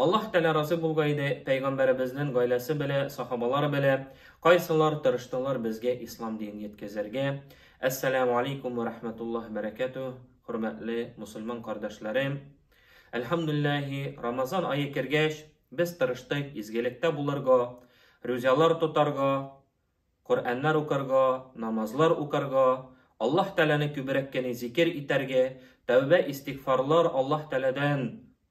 Аллаһ Тәгалә разый булга иде, Пәйгамбәребезнен гаиләсе белә, сахабалар белә, кайсылар тырыштылар безгә ислам динен йеткезергә. Әссәләмү алейкум вә рәхмәтуллаһи бәрәкәтү, хөрмәтле мусульман кардәшләрем! Әлхәмдүлилләһи, Рамазан ае кергәч, без тырыштык изгелектә булырга, рүзялар тотарга, Коръәннәр укырга, намазлар укырга, Аллаһ Тәгаләне күбрәк кени зикер итәргә, тәүбә-истигъфарлар Аллаһ Тәгаләдән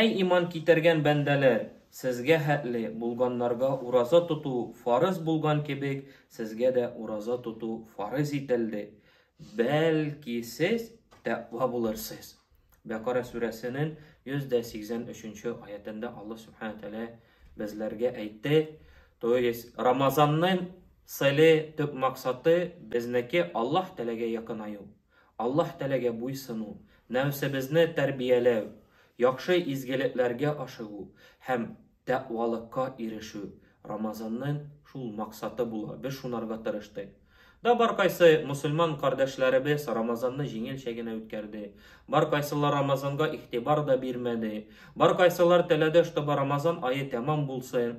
Әй иман китергән бәндәләр, сезгә хәтле булганнарга ураза тоту фарыз булган кебек, сезгә дә ураза тоту фарыз ителде, бәлки сез тәкъва булырсыз. Бәкара сүрәсенен 183 нче аятендә Аллаһ Сүбхәнәһү Тәгалә безләргә әйтте, то есть Рамазаннын цели, төп максаты, безнеке Аллаһ Тәгаләгә якынаю. Аллаһ Тәгаләгә буйсыну, нәфсебезне тәрбияләү, яхшы изгелекләргә ашыгу һәм тәкъвалыкка ирешү Рамазанның шул максаты була, без шунарга тырыштык. Да баркайсы мөселман кардәшләребез Рамазанны җиңелчә генә үткәрде, баркайсылар Рамазанга игътибар да бирмәде, баркайсылар теләде, чтобы Рамазан ае тәмам булсын.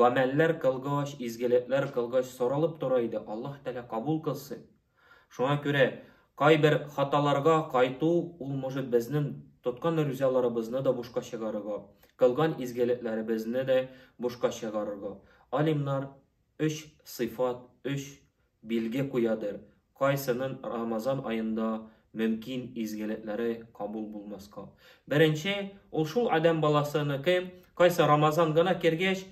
Гамәлләр кылгач, изгелекләр кылгач соралып тора иде, Аллаһ Тәгалә кабул кылсын. Шуңа күрә кайбер хаталарга кайту, ул может безнең тоткан рүзаларыбызны да бушка чыгарырга, кылган изгелекләребезне дә бушка чыгарырга. Алимнар өч сыйфат, өч Билге куядыр, кайсынын Рамазан аенда мөмкин изгелекләре кабул булмаска. Беренче, ул шул адәм баласыныкы, кайсы Рамазан гына кергәч,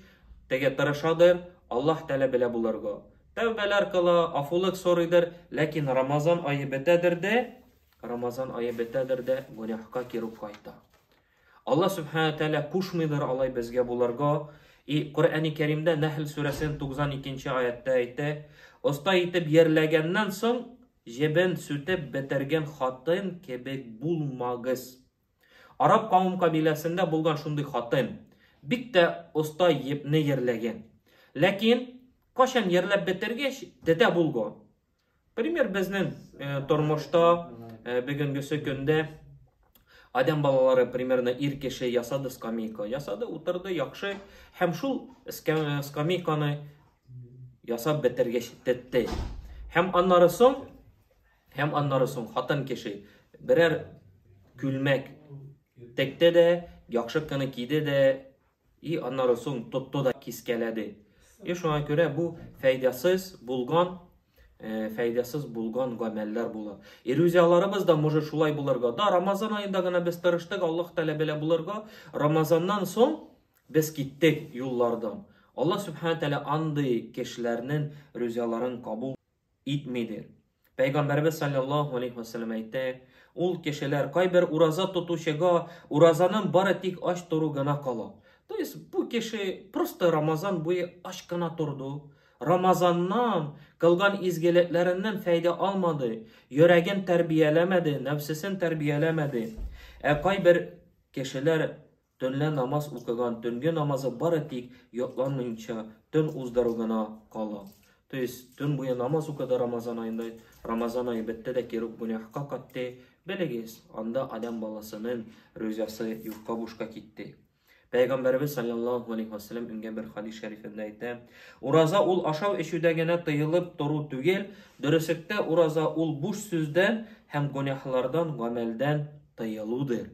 теге тырышадыр, Аллаһ Тәгалә белә булырга. Тәүбәләр кыла, афулык сорыйдыр, ләкин Рамазан ае бетәдер дә, Рамазан ае бетәдер дә, гөнаһка керү кайта. Алла Сүбхәнә Тәгалә кушмыйдыр алай безгә булырга, и Коръәни Кәримдә Нәхл сүрәсенең 92 нче аятьтә әйтә, Оста итеп йәрләгәннән соң, җебен сүтеп бетергән хатын кебек булмагыз. Араб кавым-кабиләсендә булган шундый хатын, бик тә оста епне йәрләгән. Ләкин, кайчан йәрләп бетергәч, тетә булган. Пример безнең э, тормышта э, бүгенгесе көндә Адәм балалары примерно ир кеше ясады скамейка. Ясады, утырды, яхшы. Һәм шул скамейканы ясап бетергәч тетте. Һәм аннары соң, һәм аннары соң хатын кеше берәр күлмәк текте дә, яхшы кына киде дә, И аннары соң тотты да кискәләде. И шуңа күрә бу фәйдәсез булган Э, фәйдәсез булган гамәлләр була. Ирүзияларыбыз да может шулай булырга. Да, Рамазан аенда гына без тырыштык, Аллаһ Тәгалә белә булырга. Рамазаннан соң без киттек юллардан. Аллаһ Субхана Тәгалә андый кешеләрнең рүзияларын кабул итмидер. Пәйгамбәребез саллаллаһу алейхи ва саллям әйтә, ул кешеләр кайбер ураза тотучыга уразаның бары тик ач тору гына кала. То есть бу кеше просто Рамазан буе ач кына торды. Рамазаннан кылган изгелекләреннән фәйдә алмады, йөрәген тәрбияләмәде, нәфсесен тәрбияләмәде. Ә кайбер кешеләр Төнлә намаз укыган төнге намазы бары тик йотланмыйнча төн уздыру гына кала. То есть, төн буе намаз укыды Рамазан аенда, Рамазан ае бетте дә кире гүнәһка катте, белегез, анда Адәм баласының рузасы юкка бушка китте. Пәйгамбәребез саллаллаху алейхи ва саллям ингән бер хадис шәрифендә әйтә, ураза ул ашау эчүдә генә тыелып тору түгел, дөресектә ураза ул буш сүздән һәм гүнәһлардан, гамәлдән тыелудыр.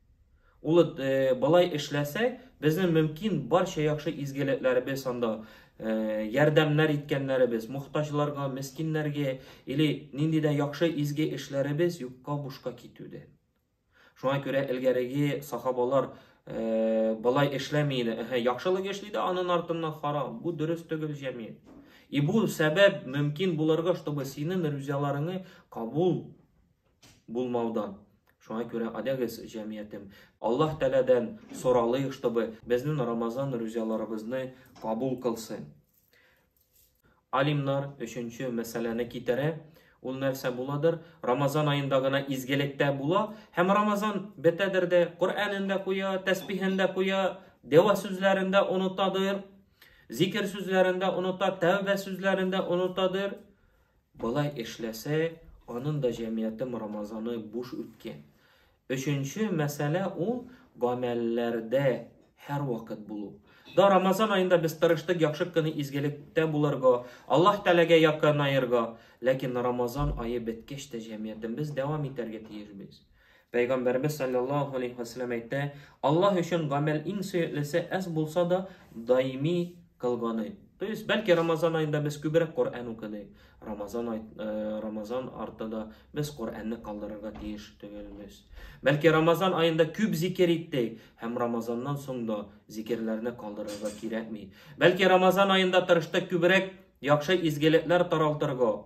Ул болай эшләсәк, безнең мөмкин барча яхшы изгелекләребез анда, ярдәмнәр иткәннәребез, мохтаҗларга, мескиннәргә или нинди дә яхшы изге эшләребез юкка бушка китүдән. Шуңа күрә элгәреге сахабалар болай эшләми иде. Әһә, яхшылык эшли дә анын артыннан харам. Бу дөрес түгел җәмият. И бу сәбәп мөмкин булырга, чтобы синең рүзяларыңны кабул булмаудан. Шуңа күрә адәгез җәмиятем. Аллаһ Тәләдән соралыйк, чтобы безнең Рамазан рүзяларыбызны кабул кылсын. Алимнар өченче мәсьәләне китерә. Ул нәрсә буладыр? Рамазан аенда гына изгелектә була, һәм Рамазан бетәдер дә, Коръәнен дә куя, тәсбихен дә куя, дәва сүзләрен дә онытадыр, зикер сүзләрен дә оныта, тәүбә сүзләрен дә онытадыр. Болай эшләсә, анын да җәмиятем Рамазаны буш үткән. Өченче мәсьәлә ул гамәлләрдә һәрвакыт булу. Да Рамазан аенда без тырыштык яхшы кыны изгелектә булырга, Аллаһ Тәгаләгә якынаерга, ләкин Рамазан ае беткәч тә җәмиятембез дәвам итәргә тиеш без. Пәйгамбәрбез саллаллаһу алейһи ва саллям әйтә, Аллаһ өчен гамәл иң сөеклесе әз булса да даими кылганы. То есть, бәлки Рамазан аенда без күбрәк Коръән укыдык, Рамазан ай, э, Рамазан арты да без Коръәнне калдырырга тиеш түгелбез. Бәлки Рамазан аенда күп зикер иттек, һәм Рамазаннан соң да зикерләрне калдырырга кирәкми. Бәлки Рамазан аенда тырыштык күбрәк яхшы изгелекләр таралтырга,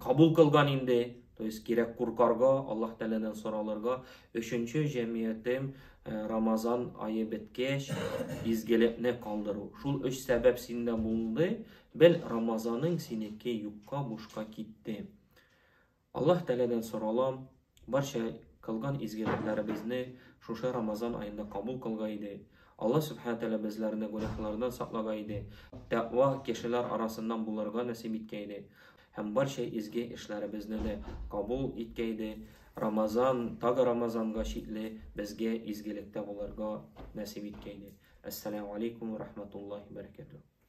кабул кылган инде то есть кирәк куркарга аллаһ тәгаләдән соралырга өченче җәмиятем э, рамазан айы беткәч изгелекне калдыру шул өч сәбәп синдә булды бел рамазаның синеке юкка бушка китте аллаһ тәгаләдән соралам Барча кылган изгелекләребезне шушы Рамазан аенда кабул кылга иде. Алла Сүбхәнә Тәгалә безләрне гүнәһләрдән саклага иде, тәкъва кешеләр арасыннан булырга нәсыйп иткә иде һәм барча изге эшләребезне дә кабул иткә иде. Рамазан, тагы Рамазанга чикле безгә изгелектә булырга нәсыйп иткә иде. Әссәләмү алейкум ва рахматуллаһи ва баракатуһ.